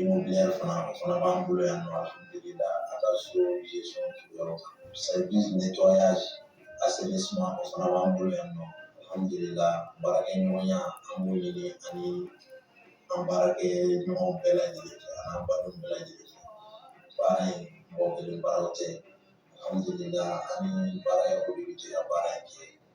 immobilière fana o fana b'an bolo yan nɔ alhamdulila a ka so gestion yɔrɔ kan service nettoyage assainissement o fana b'an bolo yan nɔ alhamdulila baarakɛɲɔgɔnya an b'o ɲini ani an baarakɛ ɲɔgɔn bɛɛ lajɛlen fɛ ani an badenw bɛɛ lajɛlen fɛ baara in mɔgɔ kelen baara tɛ alhamdulila an ni baara yɔrɔ de bɛ jɛ ka baara in kɛ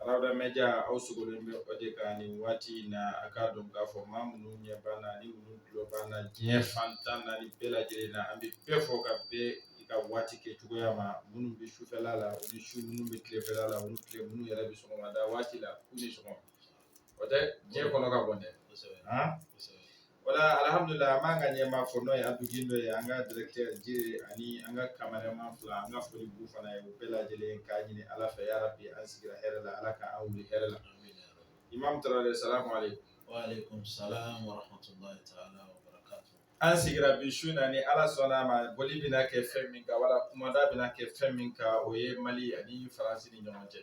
Arawda media aw sogolen bɛ o de kan nin waati in na a k'a dɔn k'a fɔ maa minnu ɲɛ b'an na ani minnu tulo b'an na diɲɛ fan tan ni naani bɛɛ lajɛlen na an bɛ bɛɛ fo ka bɛn i ka waati kɛ cogoya ma minnu bɛ sufɛla la u ni su minnu bɛ tilefɛla la u ni tile minnu yɛrɛ bɛ sɔgɔmada waati la k'u ni sɔgɔma o tɛ diɲɛ kɔnɔ ka bɔ dɛ wala alhamdulillah an b'an ka ɲɛmaa fo n'o ye abudu gindo ye an ka directeur jire ani an ka cameraman fila an ka foli b'u fana ye u bɛɛ lajɛlen k'a ɲini ala fɛ ya rabbi an sigira hɛrɛ la ala ka an wuli hɛrɛ la imam tarawele salamu aleykum wa aleykum salam wa rahmatullahi taala wa barakatu an sigira bi su na ni ala sɔnna a ma boli bɛna kɛ fɛn min kan wala kumada bɛna kɛ fɛn min kan o ye mali ani faransi ni ɲɔgɔn cɛ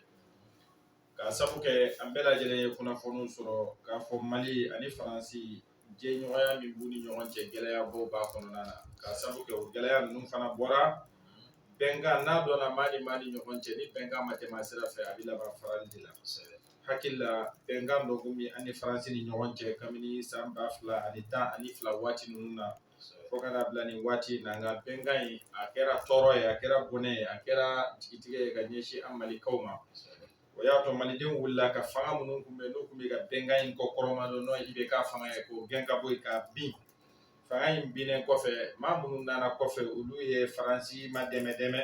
k'a sabu kɛ an bɛɛ lajɛlen ye kunnafoniw sɔrɔ k'a fɔ mali ani faransi jɛɲɔgɔnya min b'u ni ɲɔgɔn cɛ gɛlɛyabaw b'a kɔnɔna na k'a sabu kɛ o gɛlɛya ninnu fana bɔra bɛnkan na a dɔnna maa ni maa ni ɲɔgɔn cɛ ni bɛnkan ma tɛmɛ a sira fɛ a bɛ laban farali de la hakili la bɛnkan dɔ kun bɛ an ni faransi ni ɲɔgɔn cɛ kabini san ba fila ani tan ani fila waati ninnu na fo ka n'a bila nin waati in na nka bɛnkan in a kɛra tɔɔrɔ ye a kɛra bɔnɛ ye a kɛra jigitigɛ ye ka ɲɛsin an malikaw ma o y'a to malidenw wulila ka fanga minnu tun bɛ n'u tun bɛ ka bɛnkan in kɔkɔrɔmadon n'o IBK fanga ye k'o gɛn ka bɔ yen k'a bin fanga in binnen kɔfɛ maa minnu nana kɔfɛ olu ye faransi madɛmɛdɛmɛ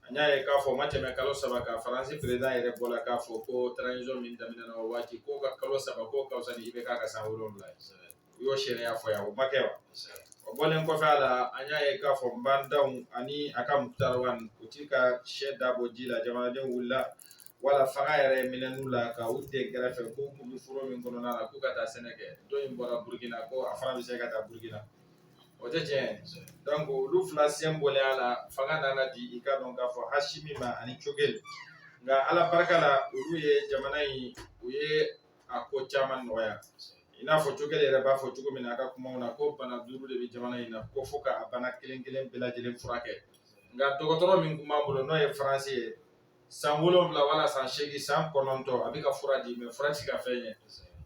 an y'a ye k'a fɔ o ma tɛmɛ kalo saba kan faransi président yɛrɛ bɔra k'a fɔ ko transition min daminɛna o waati k'o ka kalo saba k'o ka fisa ni IBK ka san wolonwula ye u y'o seereya fɔ yan o ma kɛ wa o bɔlen kɔfɛ a la an y'a ye k'a fɔ ba ndaw ani a ka mukutari wani u ti ka sɛ dabɔ ji la jamanadenw wulila wala fanga yɛrɛ minɛn'u la ka u dɛn kɛrɛfɛ k'u kun bɛ foro min kɔnɔna na k'u ka taa sɛnɛ kɛ dɔ in bɔra burukina ko a fana bɛ se ka taa burukina o tɛ tiɲɛ donc olu fila sen bɔlen a la fanga nana di i k'a dɔn k'a fɔ asimi ma ani cogɛli nka ala barika la olu ye jamana in u ye a ko caman nɔgɔya i n'a fɔ cogɛli yɛrɛ b'a fɔ cogo min na a ka kumaw na ko bana duuru de bɛ jamana in na ko fo ka bana kelen kelen bɛɛ lajɛlen furakɛ nka dɔgɔtɔrɔ min tun b'an bolo n'o ye faransi ye san wolonwula wala san seegin san kɔnɔntɔn a bɛ ka fura di mais fura ti ka fɛn ɲɛ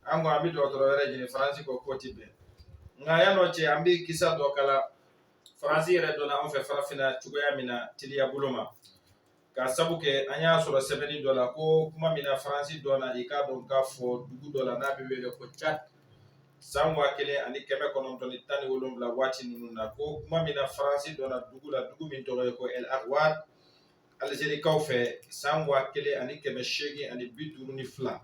an ko an bɛ dɔgɔtɔrɔ wɛrɛ ɲini faransi ko k'o ti bɛn nka yanni o cɛ an bɛ kisa dɔ kala faransi yɛrɛ donna an fɛ farafinna cogoya min na teliya bolo ma Ka sabu kɛ an y'a sɔrɔ sɛbɛnni dɔ la ko kuma min na faransi dɔnna i k'a dɔn k'a fɔ dugu dɔ la n'a bɛ wele ko cad san waa kelen ani kɛmɛ kɔnɔntɔn ni tan ni wolonwula waati ninnu na ko kuma min na faransi dɔnna dugu la dugu min tɔgɔ ye ko ɛl aruwad alizerikaw fɛ san waa kelen ani kɛmɛ seegin ani bi duuru ni fila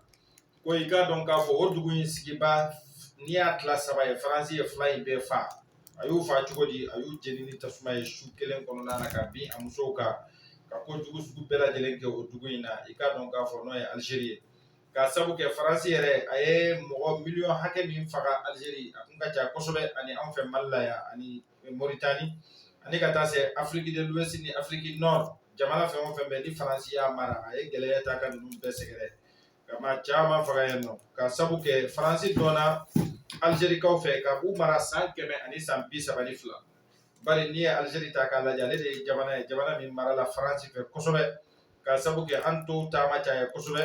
ko i k'a dɔn k'a fɔ o dugu in sigibaa n'i y'a tila saba ye faransi ye fila in bɛɛ fa a y'u fa cogo di a y'u jeni ni tasuma ye su kelen kɔnɔna na ka bin a musow kan ka kojugu sugu bɛɛ lajɛlen kɛ o dugu in na i k'a dɔn k'a fɔ n'o ye alizeri ye ka sabu kɛ faransi yɛrɛ a ye mɔgɔ miliyɔn hakɛ min faga alizeri a kun ka ca kosɛbɛ ani anw fɛ mali la yan ani moritani ani ka taa se afiriki de luwɛsi ni afiriki nɔri jamana fɛn o fɛn bɛ ni faransi y'a mara a ye gɛlɛya ta ka ninnu bɛɛ sɛgɛrɛ ka maa caman faga yen nɔ ka sabu kɛ faransi dɔnna alizerikaw fɛ ka u mara san kɛmɛ ani san bi saba ni fila bari n'i ye alizeri ta k'a lajɛ ale de ye jamana ye jamana min marala faransi fɛ kosɛbɛ ka sabu kɛ an tɔw ta ma caya kosɛbɛ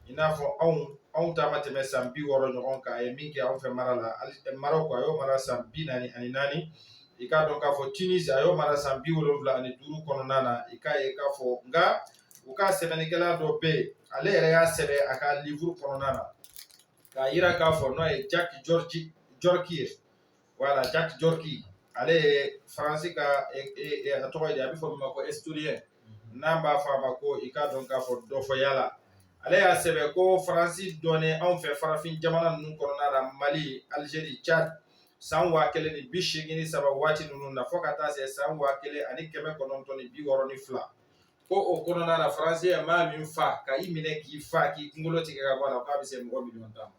i n'a fɔ anw anw ta ma tɛmɛ san bi wɔɔrɔ ɲɔgɔn kan a ye min kɛ anw fɛ mara la marɔk a y'o mara san bi naani ani naani i k'a dɔn k'a fɔ tunisi a y'o mara san bi wolonwula ani duuru kɔnɔna na i k'a ye k'a fɔ nka u ka sɛbɛnnikɛla dɔ bɛ yen ale yɛrɛ y'a sɛbɛn a ka liburu kɔnɔna na k'a yira k'a fɔ n'o ye jaki jɔriki ye wala jaki jɔriki ale ye faransi ka a tɔgɔ ye a bɛ fɔ min ma ko estoriyɛn n'an b'a fɔ a ma ko i k'a dɔn k'a fɔ dɔfɔyala ale y'a sɛbɛn ko faransi dɔnnen anw fɛ farafin jamana ninnu kɔnɔna la mali alizeri cad san waa kelen ni bi seegin ni saba waati ninnu na fo ka taa se san waa kelen ani kɛmɛ kɔnɔntɔn ni bi wɔɔrɔ ni fila ko o kɔnɔna na faransi ye maa min fa ka i minɛ k'i fa k'i kunkolo tigɛ ka bɔ a la k'a bɛ se mɔgɔ miliyɔn tan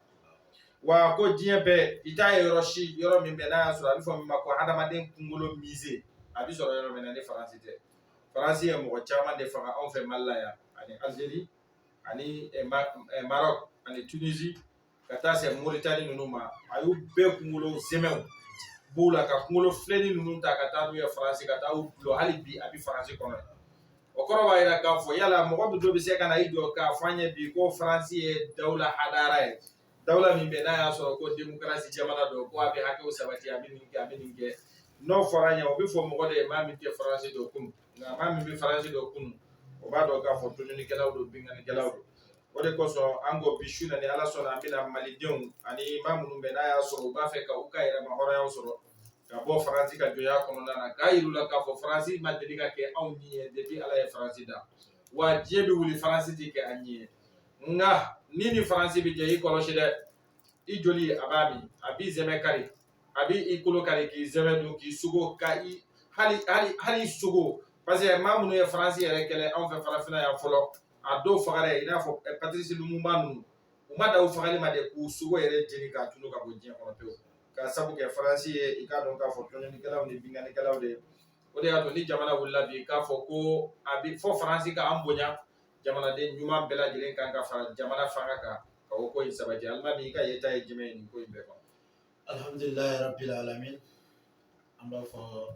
wa ko diɲɛ bɛɛ i t'a ye yɔrɔ si yɔrɔ min bɛ n'a y'a sɔrɔ a bɛ fɔ min ma ko hadamaden kunkolo mize a bɛ sɔrɔ yɔrɔ min na ni faransi tɛ faransi ye mɔgɔ caman de faga anw fɛ mali la yan ani alizeri ani eh, eh, marɔk ani tunisi ka taa se moritani ninnu ma a y'u bɛɛ kunkolo zɛmɛw b'u la ka kunkolo filenni ninnu ta ka taa n'u ye faransi ka taa u dulon hali bi a bɛ faransi kɔnɔ o kɔrɔ b'a yira k'a fɔ yala mɔgɔ min dɔ bɛ se ka na i jɔ k'a fɔ an ye bi ko faransi ye dawula hadara ye dawula min bɛ n'a y'a sɔrɔ ko demokarasi jamana don ko a bɛ hakɛw sabati a bɛ nin kɛ a bɛ nin kɛ n'o fɔra an ye o bɛ fɔ mɔgɔ de ye maa min tɛ faransi dɔn kunun nka maa min bɛ faransi dɔn kunun o b'a dɔn k'a fɔ tɔɲɔlikɛlaw don binkannikɛlaw don o de kosɔn an ko bi su na ni ala sɔnna an bɛna malidenw ani maa minnu bɛ n'a y'a sɔrɔ u b'a fɛ ka u ka yɛrɛma hɔrɔnya sɔrɔ ka bɔ faransi ka jɔnya kɔnɔna na k'a yir'u la k'a fɔ faransi ma deli ka kɛ anw ɲin ye depuis ala ye faransi da wa diɲɛ bɛ wuli faransi tɛ kɛ an ɲin ye nka ni ni faransi bɛ jɛ i kɔlɔsi dɛ i joli a b'a min a b'i zɛmɛ kari a b'i kolo kari k'i zɛmɛ don k'i sogo ka i hali i sogo parce que maa minnu ye faransi yɛrɛ kɛlɛ anw fɛ farafinna yan fɔlɔ a dɔw fagara i n'a fɔ Patirisi Lumumba ninnu u ma dan u fagali ma dɛ k'u sogo yɛrɛ jeni k'a tunu ka bɔ diɲɛ kɔnɔ pewu k'a sabu kɛ Faransi ye i k'a dɔn k'a fɔ tɔɲɔnnikɛlaw ni binkannikɛlaw de o de y'a to ni jamana wulila bi k'a fɔ ko a bɛ fɔ Faransi ka an bonya jamanaden ɲuman bɛɛ lajɛlen kan ka fara jamana fanga kan ka o ko in sabati alimami i ka yeta ye jumɛn ye nin ko in bɛɛ kan alhamdulilayi rabbil alamin an b'a fo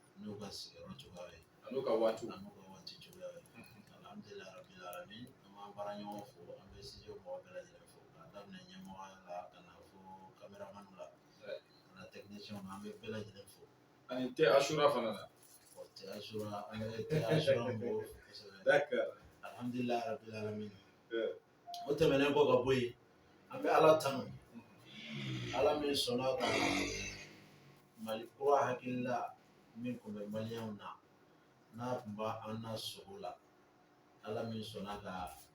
n'u ka sigiyɔrɔ cogoya ye an'u ka waati an'u ka waati cogoya ye alhamdulilayi rabbil alamin an b'an baara ɲɔgɔn fo an bɛ studio mɔgɔ bɛɛ lajɛlen fo k'a daminɛ ɲɛmɔgɔ la ka na fo kameraman la ka na technicien na an bɛ bɛɛ lajɛlen fo ani tɛ asura fana na o tɛ asura an bɛ tɛ asura mɔgɔw fo kosɛbɛ d'accord alhamdulilayi rabbil alamin o tɛmɛnen kɔ ka bɔ yen an bɛ ala tanu ala min sɔnna ka mali kura hakilila min tun bɛ maliyɛnw na n'a tun b'an na sugo la ala min sɔnna ka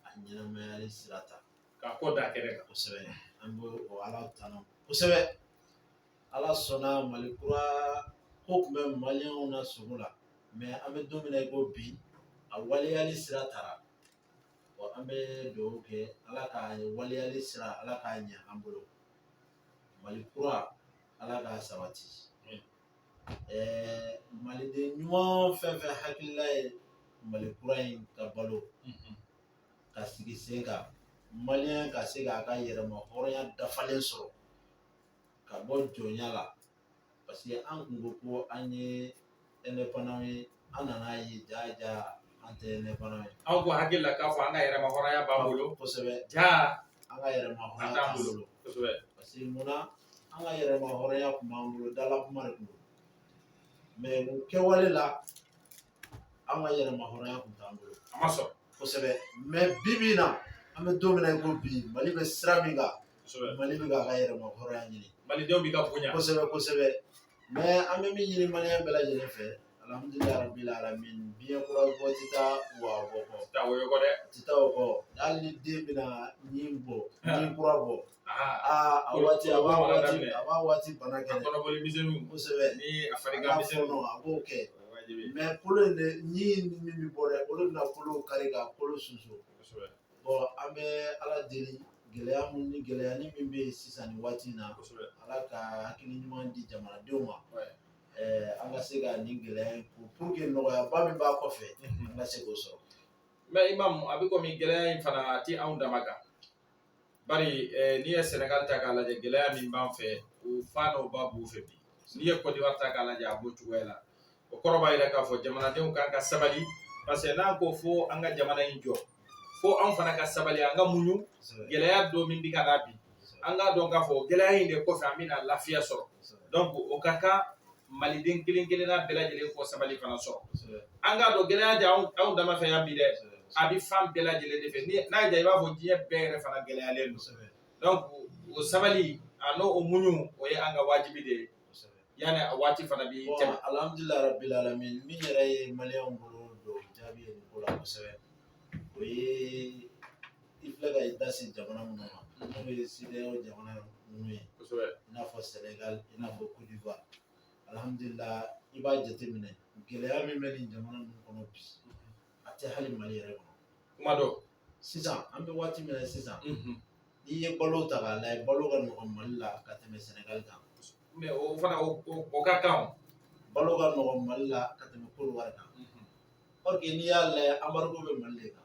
a ɲɛnamayali sira ta ka ko da kɛnɛ kan kosɛbɛ an bɛ o ala tanu kosɛbɛ ala sɔnna mali kura ko tun bɛ maliyɛnw na sugo la mais an bɛ don min na i ko bi a waleyali sira tara Wa an bɛ dugawu kɛ ala ka waleyali sira ala k'a ɲɛ an bolo mali kura ala k'a sabati ɛɛ maliden ɲuman fɛn fɛn hakilila ye mali kura in ka balo ka sigi sen kan maliyɛn ka se k'a ka yɛrɛma hɔrɔnya dafalen sɔrɔ ka bɔ jɔnya la parce que an kun ko ko an ye indépendant ye an nan'a ye jaa jaa an tɛ indépendant ye anw kun hakili la k'a fɔ an ka yɛrɛma hɔrɔnya b'an bolo kosɛbɛ jaa an ka yɛrɛma hɔrɔnya t'an bolo kosɛbɛ parce que mun na an ka yɛrɛma hɔrɔnya tun b'an bolo dala kuma de tun don mais u kɛwale la an ka yɛrɛma hɔrɔnya kun t'an bolo a ma sɔrɔ kosɛbɛ mais bi bi in na an bɛ don min na i ko bi mali bɛ sira min kan kosɛbɛ mali bɛ k'a ka yɛrɛma hɔrɔnya ɲini malidenw b'i ka bonya kosɛbɛ kosɛbɛ mais an bɛ min ɲini maliyɛn bɛɛ lajɛlen fɛ alhamdulilayi rabbil alamin biɲɛ kura bɔ tɛ taa wa bɔ kɔ taa woyo kɔ dɛ tɛ taa o kɔ hali ni den bɛna ɲin bɔ ɲin kura bɔ aa a waati a b'a waati a b'a waati bana kɛ kɔnɔboli misɛnninw kosɛbɛ ni a farigan misɛnninw a b'o kɛ mɛ kolo in de ɲin min bɛ bɔ dɛ olu bɛna kolo kari ka kolo susu kosɛbɛ bon an bɛ ala deli gɛlɛya mun ni gɛlɛya nin min bɛ yen sisan nin waati in na kosɛbɛ ala ka hakili ɲuman di jamanadenw ma ɛɛ an ka se ka nin gɛlɛya in kun pour que nɔgɔyaba min b'a kɔfɛ an ka se k'o sɔrɔ mɛ imam a bɛ komi gɛlɛya in fana a tɛ anw dama kan bari n'i ye sɛnɛgali ta k'a lajɛ gɛlɛya min b'an fɛ o fa n'o ba b'u fɛ bi n'i ye kɔdiwari ta k'a lajɛ a b'o cogoya la o kɔrɔ b'a yira k'a fɔ jamanadenw kan ka sabali parce que n'an ko fo an ka jamana in jɔ fo anw fana ka sabali an ka muɲu gɛlɛya dɔ min bi ka na bi an k'a dɔn k'a fɔ gɛlɛya in de kɔfɛ an bɛna lafiya sɔrɔ donc o ka kan maliden kelen kelenna bɛɛ lajɛlen k'o sabali fana sɔrɔ an k'a dɔn gɛlɛya tɛ anw dama fɛ yan bi dɛ a bɛ fan bɛɛ lajɛlen de fɛ ni n'a y'a i b'a fɔ diɲɛ bɛɛ yɛrɛ fana gɛlɛyalen don donc o sabali an'o muɲu o ye an ka wajibi de ye yanni a waati fana bi tɛmɛ alhamdulilayi rabbil alamin min yɛrɛ ye maliyɛnw bolo don jaabi ye nin ko la kosɛbɛ o ye i filɛ ka i da se jamana minnu ma n'o ye CEDEAO jamana ninnu ye kosɛbɛ i n'a fɔ Senegal i n'a fɔ Côte d'Ivoire alhamdulila i b'a jateminɛ gɛlɛya min bɛ nin jamana ninnu kɔnɔ bi a tɛ hali Mali yɛrɛ kɔnɔ kuma dɔ sisan an bɛ waati min na sisan n'i ye balo ta k'a lajɛ balo ka nɔgɔn Mali la ka tɛmɛ Senegal kan mɛ o fana o ka kan o balo ka nɔgɔn Mali la ka tɛmɛ Côte d'Ivoire kan or que n'i y'a lajɛ embargo bɛ Mali de kan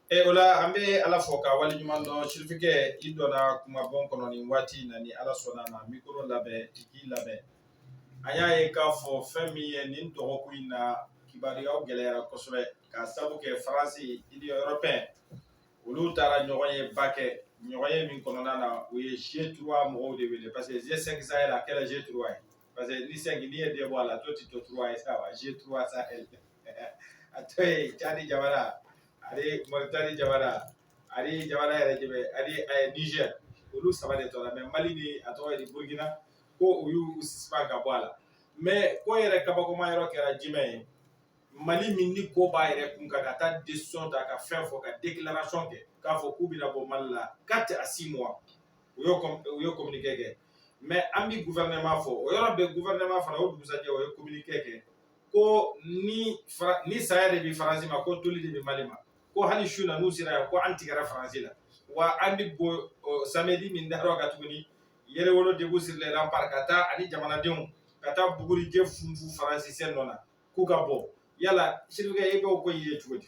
E o la an bɛ ala fo k'a waleɲumandɔn sirifikɛ i donna kumabon kɔnɔ nin waati in na ni ala sɔnna a ma mikoro labɛn i k'i labɛn a y'a ye k'a fɔ fɛn min ye nin dɔgɔkun in na kibaruyaw gɛlɛyara kosɛbɛ k'a sabu kɛ faransi union européenne olu taara ɲɔgɔnyeba kɛ ɲɔgɔnye min kɔnɔna na u ye G trois mɔgɔw de wele parce que G cinq Sahel a kɛra G trois ye parce que ni cinq n'i ye deux bɔ a la tɔ ti to trois ye sa wa G trois Sahel a tɔ ye cadi jamana ani mauritani jamana ani jamana yɛrɛ jumɛn ani eh, niger olu saba de tora mɛ mali ni a tɔgɔ ye di burkina ko u y'u suspend ka bɔ a la mɛ ko yɛrɛ kabakoma yɔrɔ kɛra jumɛn ye mali min nin ko b'a yɛrɛ kun kan ka taa décision ta ka fɛn fɔ ka déclaration kɛ k'a fɔ k'u bɛna bɔ mali la quatre à six mois u y'o u y'o communiqué kɛ mais an bi gouvernement fo o yɔrɔ bɛɛ gouvernement fana o dugusajɛ o ye communiqué kɛ ko ni fara ni saya de bi faransi ma ko toli de bi mali ma ko hali su na n'u sera yan ko an tigɛra faransi la wa an bi bɔ samedi min darɔ ka tuguni yɛrɛwolo debout sur les remparts ka taa ani jamanadenw ka taa bugurijɛ funfun faransɛ nɔ na k'u ka bɔ yala sirifikɛ e b'o ko ye cogo di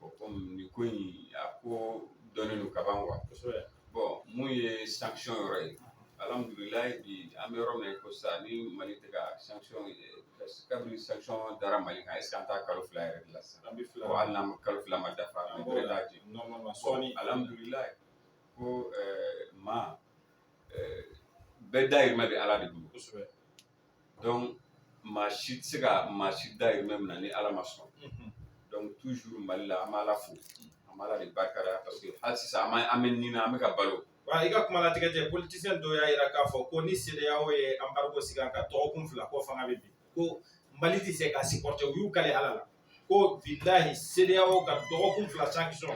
o komi nin ko in a ko dɔnnen don kaban wa kosɛbɛ bɔn mun ye sanction yɔrɔ ye alhamdulilayi bi an bɛ yɔrɔ min na ko sisan ni mali tɛ ka sanction kabini sanction dara mali kan ɛseke an t'a kalo fila yɛrɛ de la sisan an bɛ fila wa hali n'an ma kalo fila ma dafa an bɛ t'a di sɔɔni alhamdulilayi ko maa bɛɛ dayirimɛ bɛ ala de bolo kosɛbɛ maa si tɛ se ka maa si dayirimɛ minɛ ni ala ma sɔn toujours mali la an b'ala fo an b'ala de barika da parce que hali sisan an bɛ nin na an bɛ ka balo wa i ka kuma latigɛ tɛ politisiyɛn dɔw y'a jira k'a fɔ ko ni CEDEAO ye anbargo sigi an kan dɔgɔkun fila ko fanga bɛ bin ko mali tɛ se ka supporter u y'u kale ala la ko bilahi CEDEAO ka dɔgɔkun fila sanction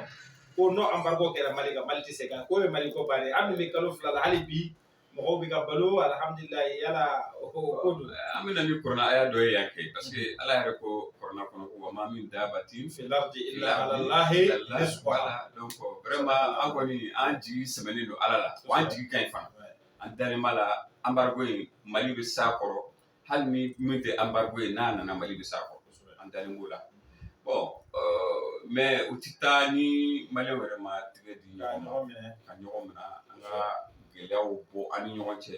ko n'o anbargo kɛra mali kan mali tɛ se ka k'o ye mali ko bannen ye hali ni bɛ kalo fila la hali bi mɔgɔw bɛ ka balo alihamdulilayi yala o ko o ko don an bɛ na ni kurana aya dɔ ye yan kɛ parce que ala yɛrɛ ko kurana kɔnɔ ko wa maa min daabatin fil ardi ila alalahi rizquha donc vraiment an kɔni an jigi sɛmɛnen don ala la wa an jigi ka ɲi fana an dalen b'a la embargo in mali bɛ s'a kɔrɔ hali ni min tɛ anbargo ye n'a nana mali bɛ s'a kɔrɔ an dalen b'o la bɔn mɛ o tɛ taa ni maliyɛnw yɛrɛ ma tigɛ di ɲɔgɔn ma ka ɲɔgɔn minɛ an ka gɛlɛyaw bɔ an ni ɲɔgɔn cɛ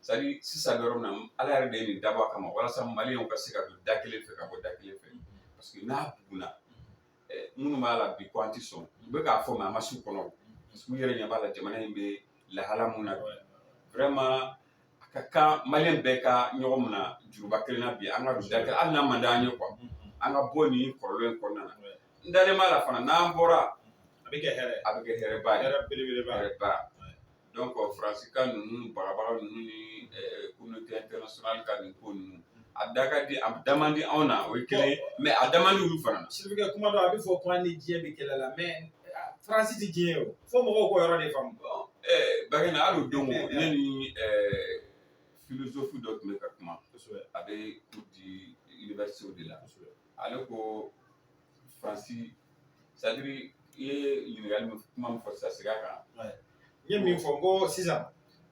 sadiri sisan yɔrɔ min na ala yɛrɛ de ye nin dabɔ a kama walasa mali ka se ka don da kelen fɛ ka bɔ da kelen fɛ parce que n'a bugunna minnu b'a la bi ko an tɛ sɔn u bɛ k'a fɔ mɛ a ma s'u kɔnɔ parce que u yɛrɛ ɲɛ b'a la jamana in bɛ lahala mun na vraiment a ka kan maliyɛn bɛɛ ka ɲɔgɔn minɛ juruba kelen na bi an ka don da kelen hali n'a man d'an ye kuwa an ka bɔ nin kɔlɔlɔ in kɔnɔna na n dalen b'a la fana n'an bɔra a bɛ kɛ hɛrɛ a bɛ kɛ hɛrɛba ye hɛrɛ belebeleba hɛrɛba donc faransi ka ninnu bagabaga ninnu ni communauté internationale ka nin ko ninnu a da ka di a da man di anw na o ye kelen ye mɛ a da man di olu fana na sirifukɛ kuma dɔ a bɛ fɔ ko an ni diɲɛ bɛ kɛlɛ la mɛ faransi tɛ diɲɛ ye o fo mɔgɔw k'o yɔrɔ de faamu bakɛ na hali o don ne ni filozofu dɔ tun bɛ ka kuma a bɛ cours di université de la ale ko Faransi sadiri i ye ɲininkali min kuma min fɔ sisan segin a kan n ye min fɔ n ko sisan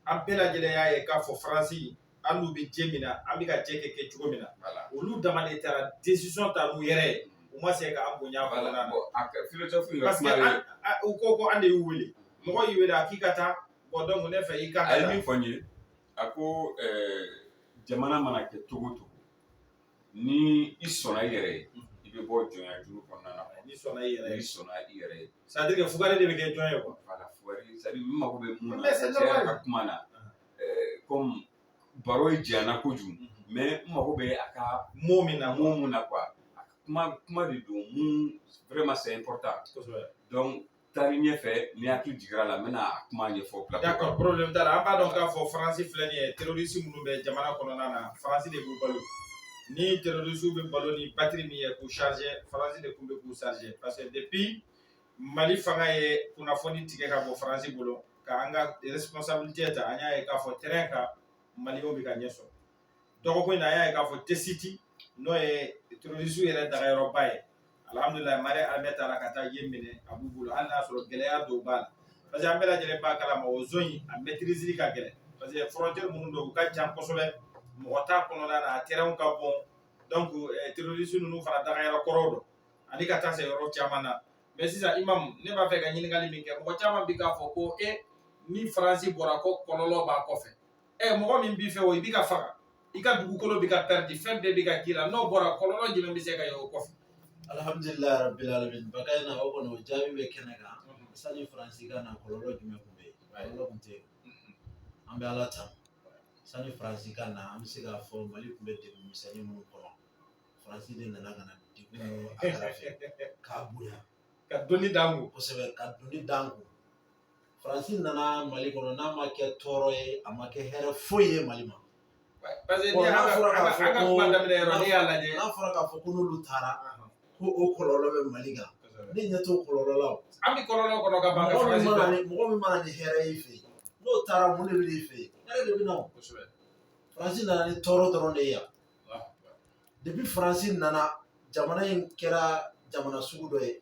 an bɛɛ lajɛlen y'a ye k'a fɔ faransi an n'u bɛ jɛ min na an bɛ ka jɛ kɛ kɛ cogo min na olu dama de taara desisɔn ta n'u yɛrɛ ye u ma se ka an bonya baara kɔnɔna na bɔn a kɛ filozofu ka parce que kuma ye an- a- u ko ko an de y'u wele mɔgɔ y'i wele a k'i ka taa bɔn donc ne fɛ i ka a ye min fɔ n ye a ko ɛɛ jamana mana kɛ cogo o cogo ni i sɔnna i yɛrɛ ye i bɛ bɔ jɔnya juru kɔnɔna na ni sɔnna i yɛrɛ ye i sɔnna i yɛrɛ ye c'est à dire que fugari de bɛ kɛ jɔn ye quoi voilà fugari c'est à dire n mago bɛ mun na cɛ yɛrɛ ka kuma na comme baro ye janyana kojugu mais n mago bɛ a ka mot min na mot mun na quoi kuma kuma de don mun vraiment c'est important kosɛbɛ donc taari ɲɛfɛ ni hakili jigira la n bɛna a kuma ɲɛfɔ bila d'accord problème t'a la an b'a dɔn k'a fɔ faransi filɛ nin ye terroriste minnu bɛ jamana kɔnɔna na faransi de b'u balo ni terroriste bɛ balo ni batterie min ye k'u charger faransi de tun bɛ k'u charger parce que depuis mali fanga ye kunnafoni tigɛ ka bɔ faransi bolo ka an ka responsabilité ta an y'a ye k'a fɔ terrain kan maliyɛnw bɛ ka ɲɛ sɔrɔ dɔgɔkun in na an y'a ye k'a fɔ tɛsiti n'o ye terroristew yɛrɛ dagayɔrɔba ye alihamudulila mali armée taara ka taa yen minɛ a b'u bolo hali n'a sɔrɔ gɛlɛya dɔw b'a la parce que an bɛɛ lajɛlen b'a kalama o zone in a maîtriser ka gɛlɛn parce que frontière minnu don u ka jan kosɛbɛ mɔgɔ t'a kɔnɔna na a terrain ka bon donc eh, terroriste ninnu fana dagayɔrɔ kɔrɔw don ani ka taa se yɔrɔ caman na mais sisan imam ne b'a fɛ ka ɲininkali min kɛ mɔgɔ caman bi k'a fɔ ko e ni faransi bɔra ko kɔlɔlɔ b'a kɔfɛ ɛ mɔgɔ min b'i fɛ o i bi ka faga i ka dugukolo bɛ ka pɛridi fɛn bɛɛ bɛ ka k'i la n'o bɔra kɔlɔlɔ jumɛn bɛ se ka ye o kɔfɛ alhamdulilayi rabbil alamin bakayina o kɔni o jaabi bɛ kɛnɛ kan sani faransi ka na kɔlɔlɔ jumɛn tun bɛ yen kɔlɔlɔ tun tɛ yen an bɛ ala tanu sani faransi ka na an bɛ se k'a fɔ mali tun bɛ degun misɛnnin minnu kɔnɔ faransi de nana ka na degun ninnu aggraver k'a bonya ka doni d'an kun kosɛbɛ ka doni d'an kun faransi nana mali kɔnɔ n'a ma kɛ tɔɔrɔ ye a ma kɛ hɛrɛ foyi ye mali ma parce que n'a fɔra k'a fɔ ko n'a fɔra k'a fɔ ko n'olu taara ko o kɔlɔlɔ bɛ mali kan ne ɲɛ t'o kɔlɔlɔ la o an bɛ kɔlɔlɔ kɔnɔ ka ban mɔgɔ min ma na ni mɔgɔ min ma na ni hɛrɛ y'i fɛ yen n'o taara mun de bɛ n'i fɛ yen hɛrɛ de bɛ na o kosɛbɛ faransi nana ni tɔɔrɔ dɔrɔn de ye yan depuis faransi nana jamana in kɛra jamana sugu dɔ ye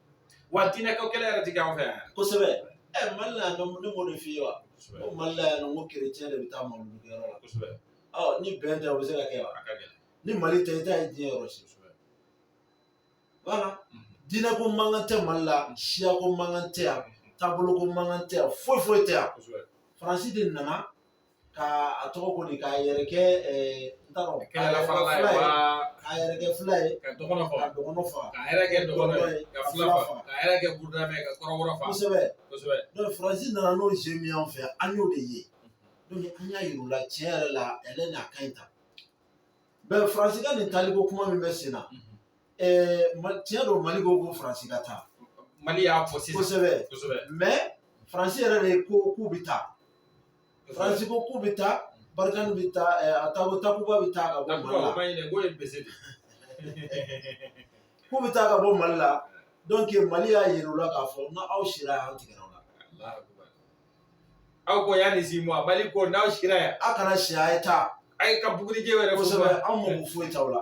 wa diinɛ ko kɛlɛ yɛrɛ ti kɛ an fɛ yan yɛrɛ. kosɛbɛ ɛ mali la yan nɔ ne m'o de f'i ye wa Kosɛbɛ. ko mali la yan nɔ ko kerecɛn de bɛ taa mawuludikɛyɔrɔ la Kosɛbɛ. ɔ ni bɛn tɛ o bɛ se ka kɛ wa A ka gɛlɛn. ni mali tɛ i t'a ye diɲɛ yɔrɔ si Kosɛbɛ. voilà Mhm. diinɛ ko mankan tɛ mali la siya ko mankan tɛ yan taabolo ko mankan tɛ yan foyi foyi tɛ yan Kosɛbɛ. faransi de nana ka a tɔgɔ ko di k'a yɛrɛ kɛ n t'a dɔn k'a yɛrɛ kɛ fila ye k'a yɛrɛ kɛ fila ye ka dɔgɔnɔ faga ka dɔgɔnɔ faga k'a yɛrɛ kɛ dɔgɔnɔ ye ka fila faga k'a yɛrɛ kɛ burudamɛ ka kɔrɔbɔrɔ faga kosɛbɛ kosɛbɛ donc faransi nana n'o jeu min y'an fɛ an y'o de ye donc an y'a yir'u la tiɲɛ yɛrɛ la ale n'a ka ɲi tan bon faransi ka nin taaliko kuma min bɛ sen na tiɲɛ don mali ko ko faransi ka taa mali y'a fɔ sisan kosɛbɛ kosɛbɛ mais faransi yɛrɛ de ko k'u bɛ taa faransi ko k'u bɛ taa barikani bɛ taa a taako takuba bɛ taa ka bɔ mali la k'u bɛ taa ka bɔ mali la donc mali y'a yira u la k'a fɔ n'aw sira yan an tigɛra aw la aw ko yanni six mois mali ko n'aw sira yan aw kana si a ye taa a ye ka bugurijɛ yɛrɛ kosɛbɛ anw mako foyi t'aw la